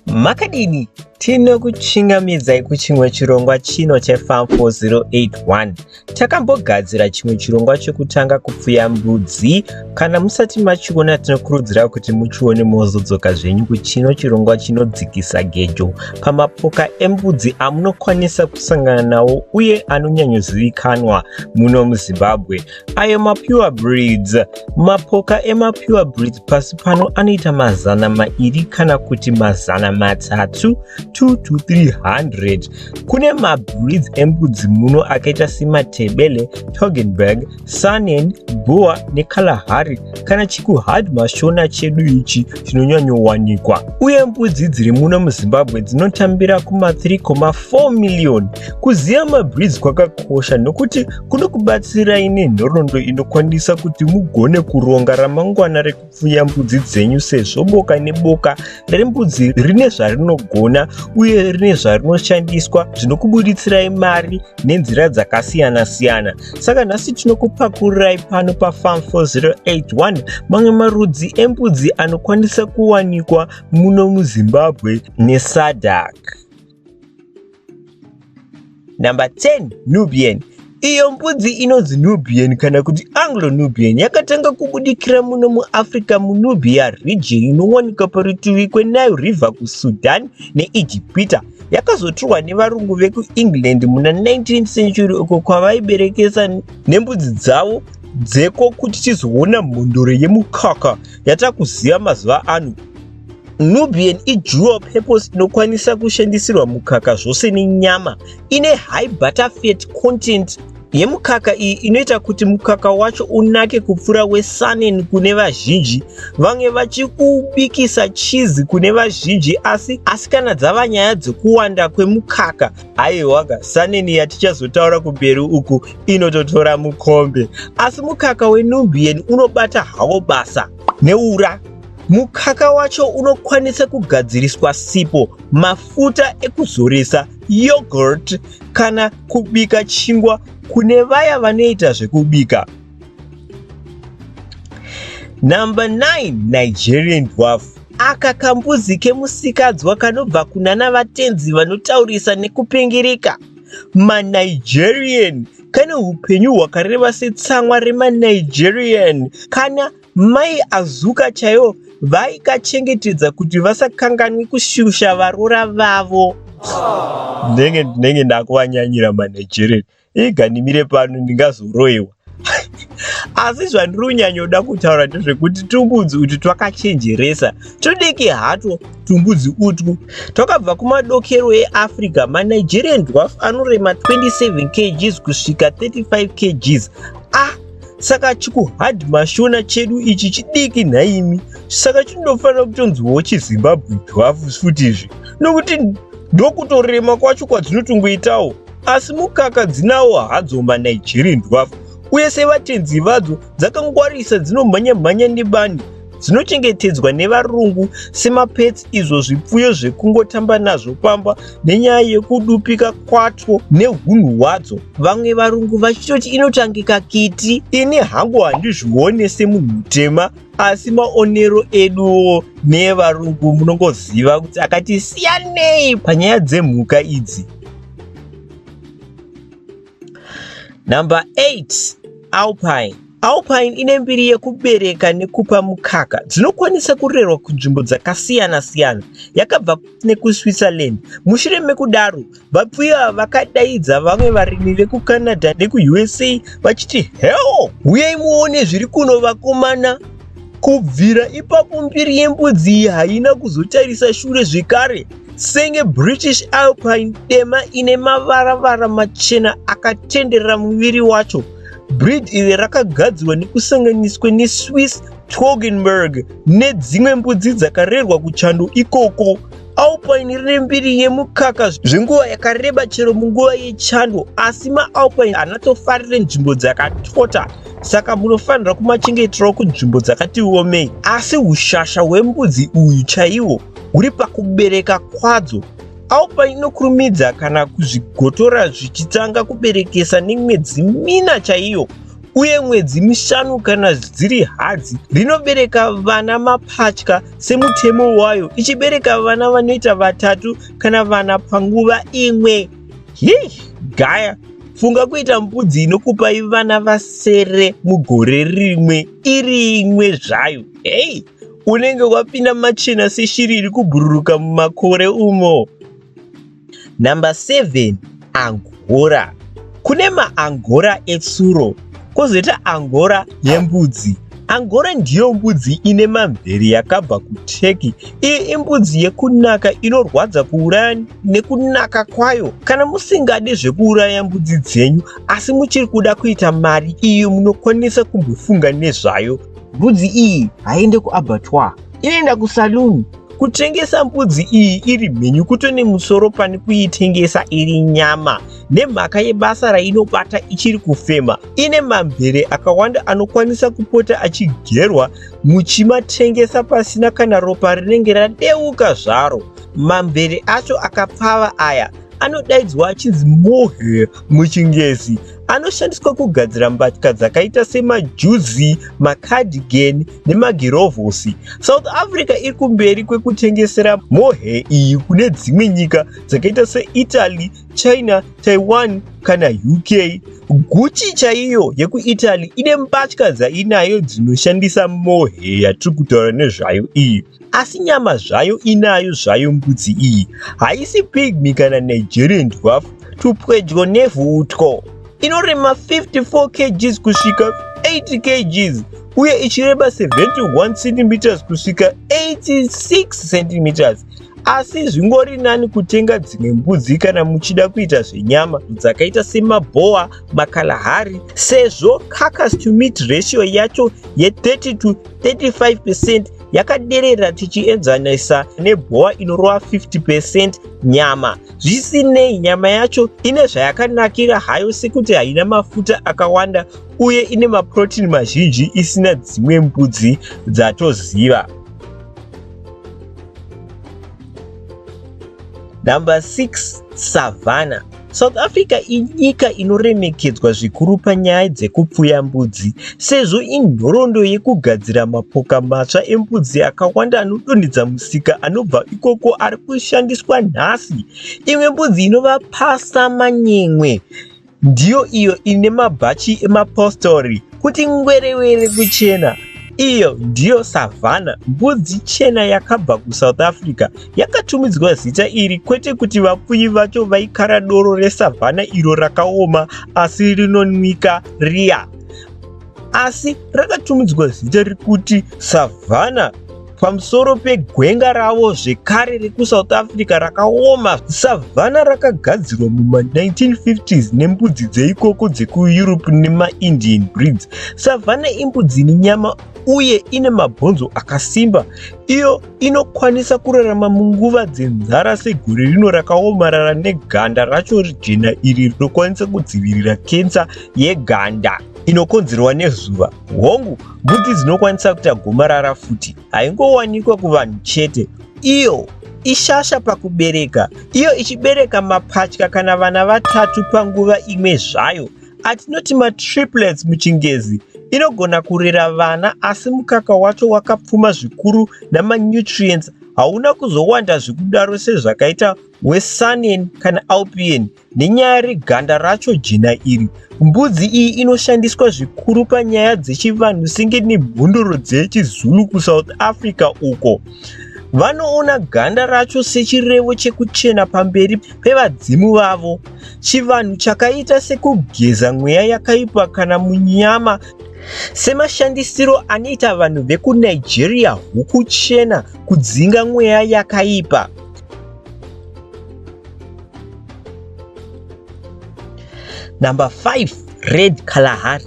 Makadini? Tinokuchingamidzai kuchimwe chirongwa chino cheFarm 4081. Takambogadzira chimwe chirongwa chekutanga kupfuya mbudzi. Kana musati machiona tinokurudzira kuti muchione mozodzoka zvenyu kuchino chirongwa chinodzikisa gejo pamapoka embudzi amunokwanisa kusangana nawo uye anonyanyozivikanwa muno muZimbabwe. ayo mapure breeds. Mapoka emapure breeds pasi pano anoita mazana mairi kana kuti mazana matatu 2 to 300. Kune mabreeds embudzi muno akaita sematebele, Toggenburg, Saanen, Boer neKalahari kana chikuhard mashona chedu ichi chinonyanyowanikwa. Uye mbudzi dziri muno muZimbabwe dzinotambira kuma 3,4 million. Kuziva mabreeds kwakakosha nokuti kunokubatsirai nenhoroondo inokwanisa kuti mugone kuronga ramangwana rekupfuya mbudzi dzenyu sezvo boka neboka rembudzi rine zvarinogona uye rine zvarinoshandiswa zvinokubuditsirai mari nenzira dzakasiyana-siyana saka nhasi tinokupakururai pano pafam 4081 mamwe marudzi embudzi anokwanisa kuwanikwa muno muzimbabwe nesadak Number 10, Nubian. Iyo mbudzi inonzi Nubian kana kuti Anglo-Nubian yakatanga kubudikira muno muAfrica muNubia region inowanika parutivi kweNile River kuSudan neIjipita. Yakazotorwa nevarungu vekuEngland muna 19th century uko kwavaiberekesa nembudzi dzavo dzeko kuti tizoona mhondoro yemukaka yatakuziva mazuva ano. Nubian idual purpose inokwanisa kushandisirwa mukaka zvose nenyama ine high butter fat content yemukaka iyi inoita kuti mukaka wacho unake kupfuura wesanen kune vazhinji vange vachikubikisa chizi kune vazhinji asi asi kana dzava nyaya dzekuwanda kwemukaka haiwaga sanen yatichazotaura kumberi uku inototora mukombe asi mukaka wenubian unobata hawo basa neura Mukaka wacho unokwanisa kugadziriswa sipo, mafuta ekuzoresa, yogurt kana kubika chingwa kune vaya vanoita zvekubika. Number 9 Nigerian dwarf aka kambuzi kemusikadzwa kanobva kunana vatenzi vanotaurisa nekupengereka manigerian kane upenyu hwakareba setsamwa remanigerian kana Mai Azuka chaivo vaikachengetedza kuti vasakanganwi kushusha varora vavo. Ndenge ndinenge ndakuvanyanyira maNigerian. Iga ndimire pano ndingazoroiwa. Asi zvandiri kunyanyoda kutaura ndezvekuti tumbudzi utu twakachenjeresa. Tudiki hatwo tumbudzi utwu. Twakabva kumadokero eAfrica, maNigerian dwarf anorema 27 kgs kusvika 35 kgs. Ah! saka chikuhard mashona chedu ichi chidiki nhaimi saka chinofanira kutonziwawo chizimbabwe dhwafu futi izvi nokuti ndokutorema kwacho kwadzinotongweitawo asi mukaka dzinawo hadzo manigerian dhwafu uye sevatenzi vadzo dzakangwarisa dzinomhanya mhanya nebani dzinochengetedzwa nevarungu semapets izvo zvipfuyo zvekungotamba nazvo pamba nenyaya yekudupika kwatwo neunhu hwadzo vamwe varungu vachitoti inotangika kiti ini hangu handizvione semunhu mutema asi maonero eduwo neevarungu munongoziva kuti akati siyanei panyaya dzemhuka idzi number 8 alpine Alpine ine mbiri yekubereka nekupa mukaka dzinokwanisa kurerwa kunzvimbo dzakasiyana-siyana yakabva nekuSwitzerland. Mushure mekudaro, vapfuyi ava vakadaidza vamwe varimi vekuCanada nekuUSA vachiti, Heo, huyai muone zviri kuno vakomana. Kubvira ipapo mbiri yembudzi iyi haina kuzotarisa shure zvekare senge British Alpine dema ine mavara-vara machena akatenderera muviri wacho. Breed iri rakagadzirwa nekusanganiswa neSwiss Toggenburg nedzimwe mbudzi dzakarerwa kuchando ikoko. Alpine rine mbiri yemukaka zvenguva yakareba chero munguva yechando asi maalpine anatofarire nzvimbo dzakatota saka munofanira kumachengeterawo kunzvimbo dzakati omei asi ushasha hwembudzi uyu chaiwo huri pakubereka kwadzo Alba inokurumidza kana kuzvigotora zvichitanga kuberekesa nemwedzi mina chaiyo uye mwedzi mishanu kana dziri hadzi rinobereka vana mapatya semutemo wayo ichibereka vana vanoita vatatu kana vana panguva imwe hii gaya funga kuita mbudzi inokupai vana vasere mugore rimwe iri imwe zvayo hei unenge wapinda machena seshiri iri kubhururuka mumakore umo number 7 angora kune maangora etsuro kozoita angora yembudzi angora ndiyo mbudzi ine mamvere yakabva kuturkey iyi imbudzi yekunaka inorwadza kuuraya nekunaka kwayo kana musingade zvekuuraya mbudzi dzenyu asi muchiri kuda kuita mari iyo munokwanisa kumbofunga nezvayo Mbudzi iyi haiende kuabattoir, inoenda kusaluni. Kutengesa mbudzi iyi iri mhenyu kuto nemusoro pane kuitengesa iri nyama nemhaka yebasa rainobata ichiri kufema. Ine mamvere akawanda anokwanisa kupota achigerwa muchimatengesa pasina kana ropa rinenge radeuka zvaro. Mamvere acho akapfava aya anodaidzwa achinzi mohair muchingezi anoshandiswa kugadzira mbatya dzakaita semajuzi macardigan nemagirovhosi south africa iri kumberi kwekutengesera mohair iyi kune dzimwe nyika dzakaita seitaly china taiwan kana uk guchi chaiyo yekuitaly ine mbatya dzainayo dzinoshandisa mohair yatiri kutaura nezvayo iyi asi nyama zvayo inayo zvayo mbudzi iyi haisi pigmy kana nigerian dwarf tupwedyo nevhu utwo inorema 54 kgs kusvika 80 kgs uye ichireba 71 cm kusvika 86 cm asi zvingori nani kutenga dzimwe mbudzi kana muchida kuita zvenyama dzakaita semabhowa makalahari sezvo carcas to meat ratio yacho ye 30 to 35% yakaderera tichienzanisa nebhowa inorova 50% nyama zvisinei nyama yacho ine zvayakanakira hayo sekuti haina mafuta akawanda uye ine maprotini mazhinji isina dzimwe mbudzi dzatoziva number 6 savannah South Africa inyika inoremekedzwa zvikuru panyaya dzekupfuya mbudzi sezvo inhoroondo yekugadzira mapoka matsva embudzi akawanda anodonhedza musika anobva ikoko ari kushandiswa nhasi. Imwe mbudzi inova Pasa Manyemwe ndiyo iyo ine mabhachi emapostori kuti ngwerewere kuchena iyo ndiyo savhana mbudzi chena yakabva kusouth africa Yakatumidzwa zita iri kwete kuti vapfuyi vacho vaikara doro resavhana iro rakaoma asi rinonwika riya, asi rakatumidzwa zita rekuti savhana pamusoro pegwenga ravo zvekare rekuSouth Africa rakaoma. Savhana rakagadzirwa muma1950s nembudzi dzeikoko dzekuEurope nemaIndian breeds. Savhana imbudzi ine nyama uye ine mabhonzo akasimba iyo inokwanisa kurarama munguva dzenzara segore rino rakaomarara neganda racho jena iri rinokwanisa kudzivirira kensa yeganda inokonzerwa nezuva hongu mbuti dzinokwanisa kuita gomarara futi haingowanikwa kuvanhu chete iyo ishasha pakubereka iyo ichibereka mapatya kana vana vatatu panguva imwe zvayo Atinoti matriplets muchingezi inogona kurera vana asi mukaka wacho wakapfuma zvikuru namanutrients hauna kuzowanda zvekudaro sezvakaita wesanen kana alpien nenyaya reganda racho jena iri mbudzi iyi inoshandiswa zvikuru panyaya dzechivanhu senge nemhondoro dzechizulu kusouth africa uko vanoona ganda racho sechirevo chekuchena pamberi kwevadzimu vavo, chivanhu chakaita sekugeza mweya yakaipa kana munyama semashandisiro anoita vanhu vekunigeria huku chena kudzinga mweya yakaipa number 5 Red Kalahari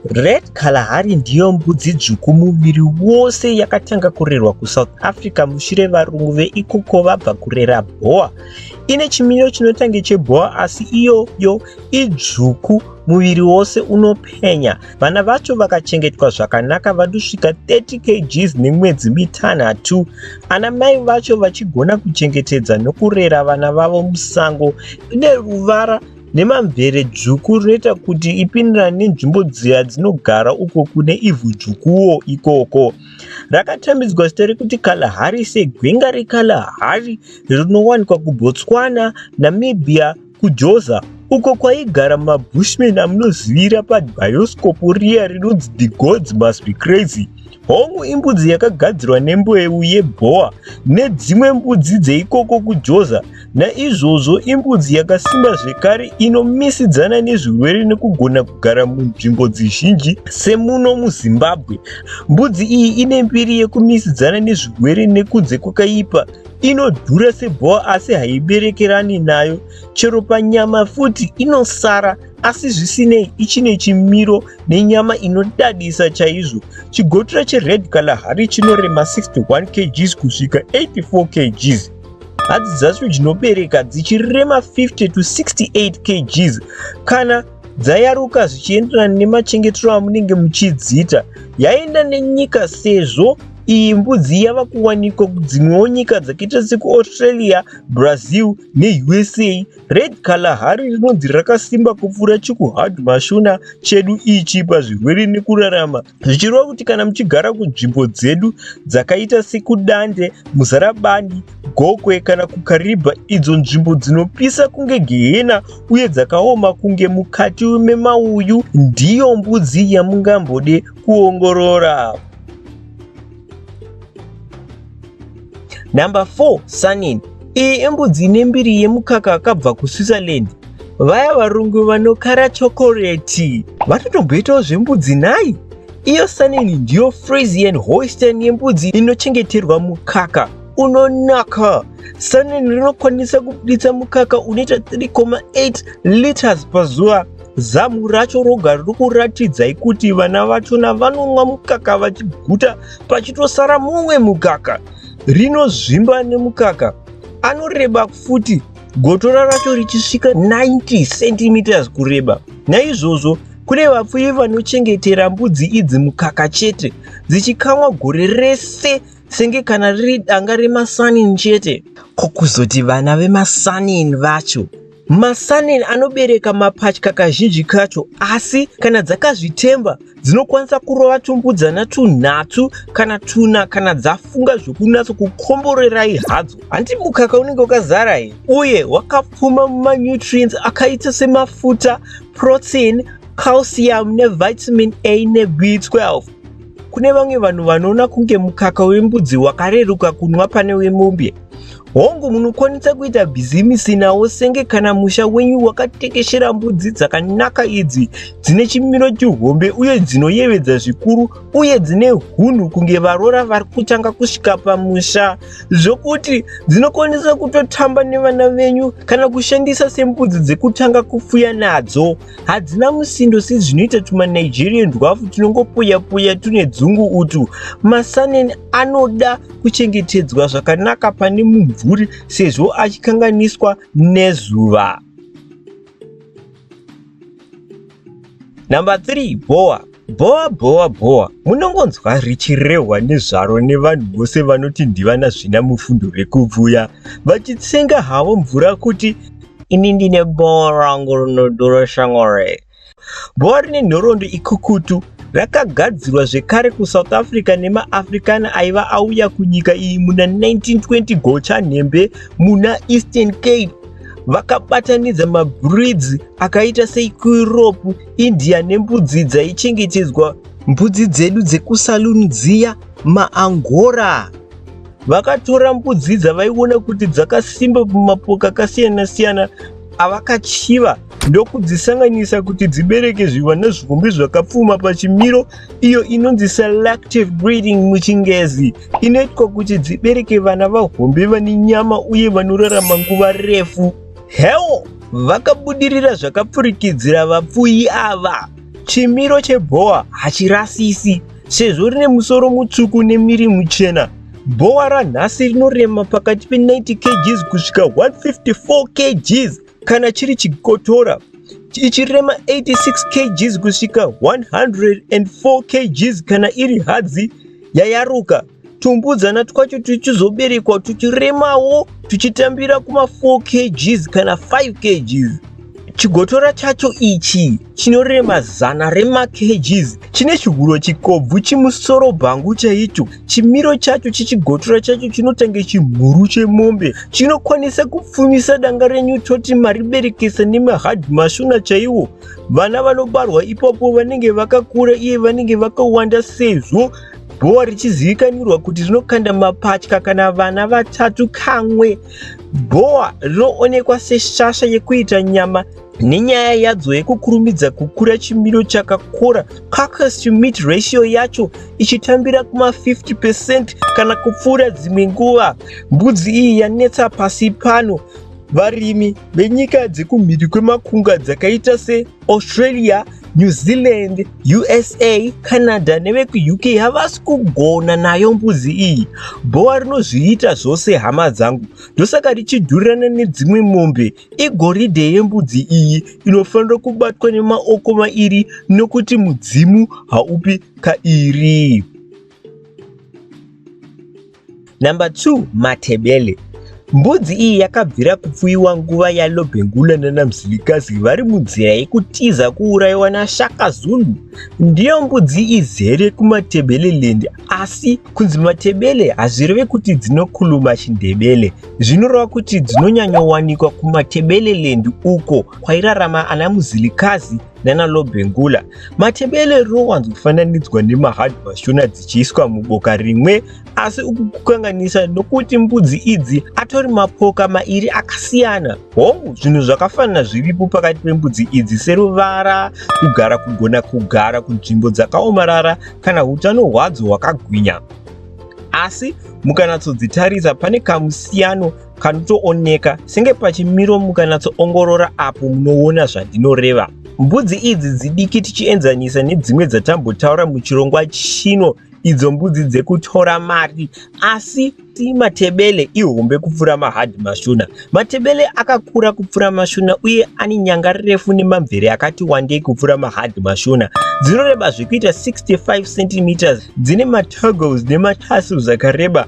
Red Kalahari ndiyo mbudzi dzvuku muviri wose yakatanga kurerwa kuSouth Africa mushure varungu veikoko vabva kurera bhoa. Ine chimiro chinotange chebhoa asi iyoyo idzvuku muviri wose unopenya. Vana vacho vakachengetwa zvakanaka vanosvika 30 kgs nemwedzi mitanhatu. Ana mai vacho vachigona kuchengetedza nokurera vana vavo musango. Ine ruvara nemamvere dzvuku rinoita kuti ipindirane nenzvimbo dziya dzinogara uko kune ivhu dzvukuwo ikoko. Rakatambidzwa zita rekuti Kalahari segwenga reKalahari rinowanikwa kuBotswana, Namibia, kuJoza uko kwaigara maBushmen amunozivira pabhayoskopu riya rinonzi The Gods Must Be Crazy. Hongu imbudzi yakagadzirwa nembeu yebhowa nedzimwe mbudzi dzeikoko kuJoza Naizvozvo imbudzi yakasimba zvekare inomisidzana nezvirwere nekugona kugara munzvimbo dzizhinji semuno muZimbabwe. Mbudzi iyi ine mbiri yekumisidzana nezvirwere nekunze kwakaipa inodhura sebhowa asi haiberekerani nayo chero panyama futi inosara asi zvisinei ichine chimiro nenyama inodadisa chaizvo chigotura chered kalahari chinorema 61 kgs kusvika 84 kgs hadzi dzacho dzinobereka dzichirema 50 to 68 kgs kana dzayaruka zvichienderana nemachengetero amunenge muchidziita yaenda nenyika sezvo iyi mbudzi yava kuwanikwa kudzimwewo nyika dzakaita sekuaustralia brazil neusa Red Kalahari rinonzi rakasimba kupfuura chikuhard mashuna chedu ichi pazvirwere nekurarama zvichireva kuti kana muchigara kunzvimbo dzedu dzakaita sekudande muzarabani gokwe kana kukaribha idzo nzvimbo dzinopisa kunge gehena uye dzakaoma kunge mukati memauyu ndiyo mbudzi yamungambode kuongorora Number 4 Sanin iyi imbudzi ine mbiri yemukaka akabva kuSwitzerland vaya varungu vanokara chokoreti vatotomboitawo zvembudzi nhai iyo sanini ndiyo frisian hoisten yembudzi inochengeterwa mukaka unonaka sanini rinokwanisa kubuditsa mukaka unoita 3,8 liters pazuva Zamu racho roga riri kuratidzai kuti vana vachona vanonwa mukaka vachiguta pachitosara mumwe mukaka rinozvimba nemukaka. Anoreba futi gotora racho richisvika 90 cm kureba. Naizvozvo kune vapfuyi vanochengetera mbudzi idzi mukaka chete dzichikamwa gore rese senge kana riri danga remasanin chete. Ko kuzoti vana vemasanin vacho Masanen anobereka mapatya kazhinji kacho asi kana dzakazvitemba dzinokwanisa kurova tumbudzana tunhatu kana tuna kana dzafunga zvokunatso kukomborerai hadzo. Hanti mukaka unenge wakazara here uye wakapfuma mumanutrients akaita semafuta, protein, calcium nevitamin A neB12. Kune vamwe vanhu vanoona kunge mukaka wembudzi wakareruka kunwa pane wemombe. Hongu, munokwanisa kuita bhizimisi nawo senge kana musha wenyu wakatekeshera mbudzi dzakanaka idzi dzine chimiro chihombe uye dzinoyevedza zvikuru uye dzine hunhu kunge varora vari kutanga kusvika pamusha zvokuti dzinokwanisa kutotamba nevana venyu kana kushandisa sembudzi dzekutanga kupfuya nadzo. hadzina musindo sezvinoita tumanigerian twafu tunongopuyapuya tune dzungu utu masanen anoda kuchengetedzwa zvakanaka pane mumvuri sezvo achikanganiswa nezuva number 3 bhowa Bhowa bhowa bhowa munongonzwa richirehwa nezvaro nevanhu vose vanoti ndivana zvina mufundo vekubvuya vachitsenga havo mvura kuti ini ndine bhowa rangu rinodura shamwari. Bhowa rine nhorondo ikukutu rakagadzirwa zvekare kusouth africa nemaafricana aiva auya kunyika iyi muna 1920 gochanhembe muna eastern cape vakabatanidza mabreeds akaita seikuropu India nembudzi dzaichengetedzwa mbudzi dzedu dzekusaluni dziya maangora vakatora mbudzi dzavaiona kuti dzakasimba mumapoka akasiyana siyana avakachiva ndokudzisanganisa kuti dzibereke zvivana zvihombe zvakapfuma pachimiro iyo inonzi selective breeding muchingezi inoitwa kuti dzibereke vana vahombe vane nyama uye vanorarama nguva refu Hell vakabudirira zvakapfurikidzira vapfuyi ava. Chimiro chebhowa hachirasisi sezvo rine musoro mutsvuku nemiri muchena. Bhowa ranhasi rinorema pakati pe90 kgs kusvika 154 kgs kana chiri chikotora ichirema 86 kgs kusvika 104 kgs kana iri hadzi yayaruka. tumbudzana twacho tuchizoberekwa tuchiremawo tuchitambira kuma 4 kgs kana 5 kgs chigotora chacho ichi chinorema zana rema kgs chine chihuro chikobvu chimusoro bhangu chaicho chimiro chacho chichigotora chacho chinotange chimhuru chemombe chinokwanisa kupfumisa danga renyu toti mariberekesa nemahadhi mashona chaiwo vana vanobarwa ipapo vanenge vakakura iye vanenge vakawanda sezvo Gowa richizivikanirwa kuti rinokanda mapatya kana vana vatatu kamwe. Gowa rinoonekwa seshasha yekuita nyama nenyaya yadzo yekukurumidza kukura chimiro chakakora carcass to meat ratio yacho ichitambira kuma 50 percent kana kupfuura dzimwe nguva mbudzi iyi yanetsa pasi pano varimi venyika dzekumhiri kwemakunga dzakaita se Australia, New Zealand, USA, Canada nevekuUK havasi kugona nayo mbuzi iyi. Bhowa rinozviita zvose hama dzangu. Ndosaka richidhurirana nedzimwe mombe. Igoridhe yembudzi iyi inofanira kubatwa nemaoko mairi nokuti mudzimu haupi kairi. Number 2 Matebele Mbudzi iyi yakabvira kupfuiwa nguva yaLobhengula nanamzilikazi vari munzira yekutiza kuurayiwa naShaka Zulu. Ndiyo mbudzi izere kuMatebeleland asi kunzi Matebele hazvireve kuti dzinokhuluma Chindebele. Zvinoreva kuti dzinonyanyowanikwa kuMatebeleland uko kwairarama ana Muzilikazi nana lobengula matebele rinowanzo kufananidzwa nemahard mashona dzichiiswa muboka rimwe asi uku kukanganisa nokuti mbudzi idzi atori mapoka mairi akasiyana hongu zvinhu zvakafanana zviripo pakati pembudzi idzi seruvara kugara kugona kugara kunzvimbo dzakaomarara kana utano hwadzo hwakagwinya asi mukanatsodzitarisa pane kamusiyano kanotooneka senge pachimiro mukanatsoongorora apo munoona zvandinoreva mbudzi idzi dzidiki tichienzanisa nedzimwe dzatambotaura muchirongwa chino idzo mbudzi dzekutora mari asi ti matebele ihombe kupfuura mahadhi mashona matebele akakura kupfuura mashona uye ane nyanga refu nemamvere akati wandei kupfuura mahadhi mashona dzinoreba zvekuita 65 cm dzine matogles nematasuls akareba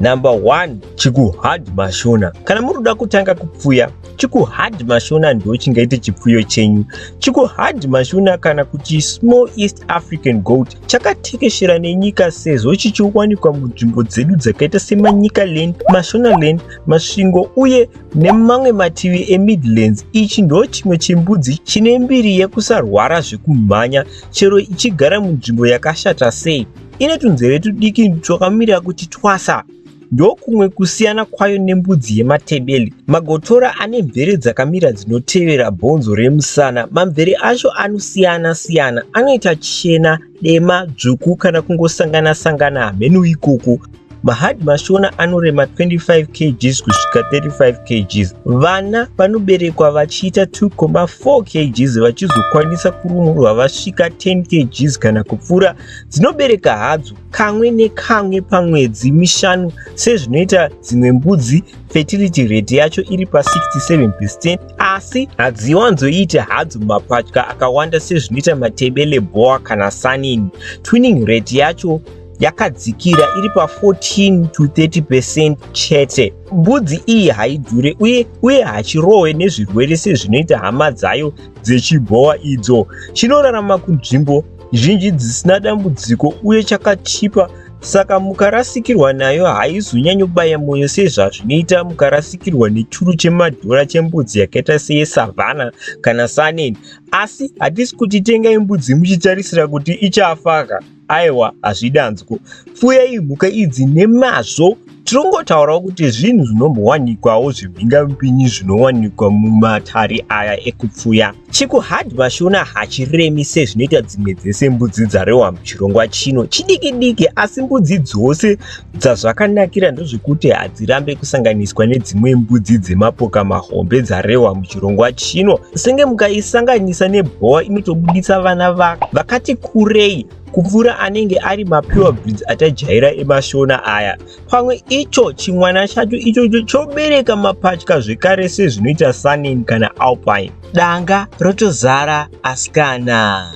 Number one, chikuhard mashona. Kana muri kuda kutanga kupfuya, chikuhard mashona ndo chingaite chipfuyo chenyu. Chikuhard mashona kana kuti small East African goat chakatekeshera nenyika sezvo chichiwanikwa munzvimbo dzedu dzakaita semanyika land, mashona land, masvingo uye nemamwe mativi eMidlands. Ichi ndo chimwe chembudzi chine mbiri yekusarwara zvekumhanya chero ichigara munzvimbo yakashata sei. Ine tunzeve tudiki twakamirira kuti twasa ndokumwe kusiyana kwayo nembudzi yematebele. Magotora ane mvere dzakamira dzinotevera bhonzo remusana. Mamvere acho anosiyana siyana, anoita chena, dema, dzvuku kana kungosangana sangana hameno ikoko. Mahadi mashona anorema 25 kgs kusvika 35 kgs. Vana vanoberekwa vachiita 2,4 kgs vachizokwanisa kurumurwa vasvika 10 kgs kana kupfuura Dzinobereka hadzo kamwe nekamwe pamwedzi mishanu sezvinoita dzimwe mbudzi, fertility rate yacho iri pa 67 percent asi hadziwanzoite hadzo mapatya akawanda sezvinoita matebele, boa kana sanini. Twinning rate yacho yakadzikira iri pa 14 to 30 percent chete. Mbudzi iyi haidhure uye uye hachirohwe nezvirwere sezvinoita hama dzayo dzechibhowa idzo. Chinorarama kunzvimbo zhinji dzisina dambudziko uye chakachipa saka mukarasikirwa nayo haizonyanyobaya mwoyo sezvazvinoita mukarasikirwa nechuru chemadhora chembudzi yakaita seyesavhana kana saneni asi hatisi kuti tengai mbudzi muchitarisira kuti ichafaka aiwa hazvidanzwo fuyai mhuka idzi nemazvo Tirongotaurawo kuti zvinhu zvinombowanikwawo zvimhingamupinyi zvinowanikwa mumatare aya ekupfuya. Chikuhad Mashona hachiremi sezvinoita dzimwe dzese mbudzi dzarehwa muchirongwa chino. Chidiki diki asi mbudzi dzose dzazvakanakira ndozvekuti hadzirambe kusanganiswa nedzimwe mbudzi dzemapoka mahombe dzarehwa muchirongwa chino. Senge mukaisanganisa nebhowa inotobuditsa vana vakati kurei. kupfuura anenge ari mapure breeds atajaira emashona aya pamwe icho chimwana chacho ichocho chobereka mapatya zvekare sezvinoita sanin kana alpine danga rotozara asikana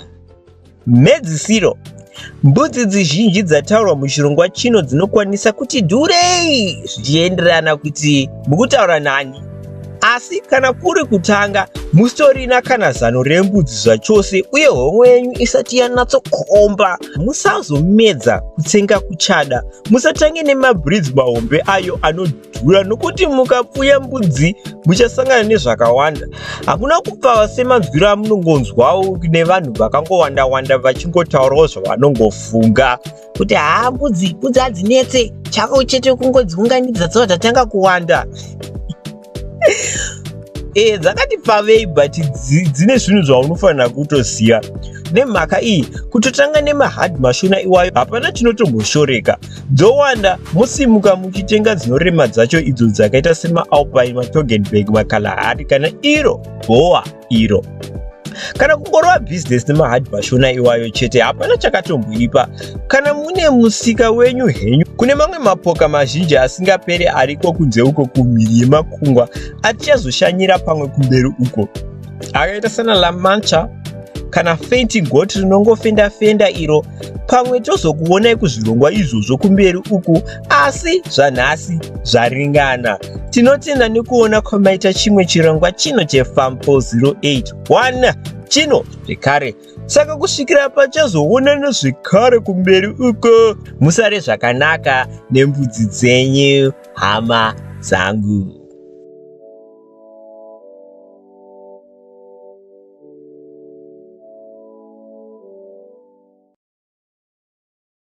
mhedzisiro mbudzi dzizhinji dzataurwa muchirongwa chino dzinokwanisa kuti dhurei zvichienderana kuti mukutaura nani Asi kana kuri kutanga, musitorina kana zano rembudzi zvachose, uye hon'o yenyu isati yanatsokomba. Musazomedza kutsenga kuchada. Musatange nemabhridzi mahombe ayo anodhura, nokuti mukapfuya mbudzi muchasangana nezvakawanda. Hakuna kupfava semanzwiro amunongonzwawo nevanhu vakangowanda-wanda vachingotaurawo zvavanongofunga. kuti haa mbudzi mbudzi hadzinetse chako chete kungodziunganidza tsoa tatanga kuwanda e dzakati pavei but dzine zvinhu zvaunofanira kutoziva nemhaka iyi kutotanga nemahard mashona iwayo hapana chinotomboshoreka dzowanda mosimuka muchitenga dzinorema dzacho idzo dzakaita semaalpine matogenberg makalahari kana iro bhowa iro kana kungorova bhizinesi nemahard mashona iwayo chete hapana chakatomboipa kana mune musika wenyu henyu kune mamwe mapoka mazhinji asingapere ariko kunze uko kumhiri yemakungwa atichazoshanyira pamwe kumberi uko akaita sana lamancha kana feinting goti rinongofenda fenda iro pamwe tozokuonai kuzvirongwa izvozvo kumberi uku asi zvanhasi zvaringana tinotenda nekuona kwamaita chimwe chirongwa chino chefam 4081 chino zvekare saka kusvikira pachazoonana zvekare kumberi uko musare zvakanaka nembudzi dzenyu hama dzangu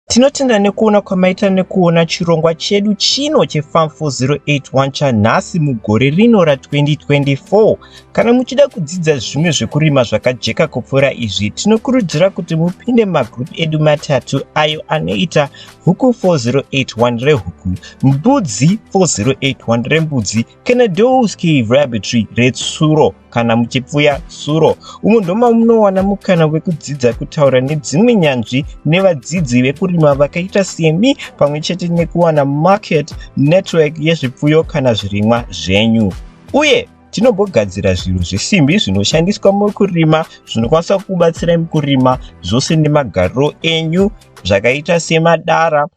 Tinotenda nekuona kwamaita nekuona chirongwa chedu chino cheFarm 4081 chanhasi mugore rino ra2024. Kana muchida kudzidza zvimwe zvekurima zvakajeka kupfuura izvi, tinokurudzira kuti mupinde mumagroup edu matatu ayo anoita Huku 4081 rehuku, Mbudzi 4081 rembudzi Kenedowski Rabbitry retsuro kana muchipfuya suro umo ndoma munowana mukana wekudzidza kutaura nedzimwe nyanzvi nevadzidzi vekurima vakaita semi pamwe chete nekuwana market network yezvipfuyo kana zvirimwa zvenyu uye tinogogadzira zvinhu zvesimbi zvinoshandiswa mukurima zvinokwanisa kubatsira mukurima zvose nemagariro enyu zvakaita semadara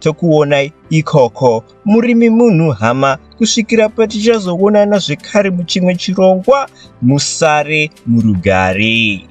tokuonai ikoko murimi munhu hama kusvikira patichazoonana zvekare muchimwe chirongwa musare murugare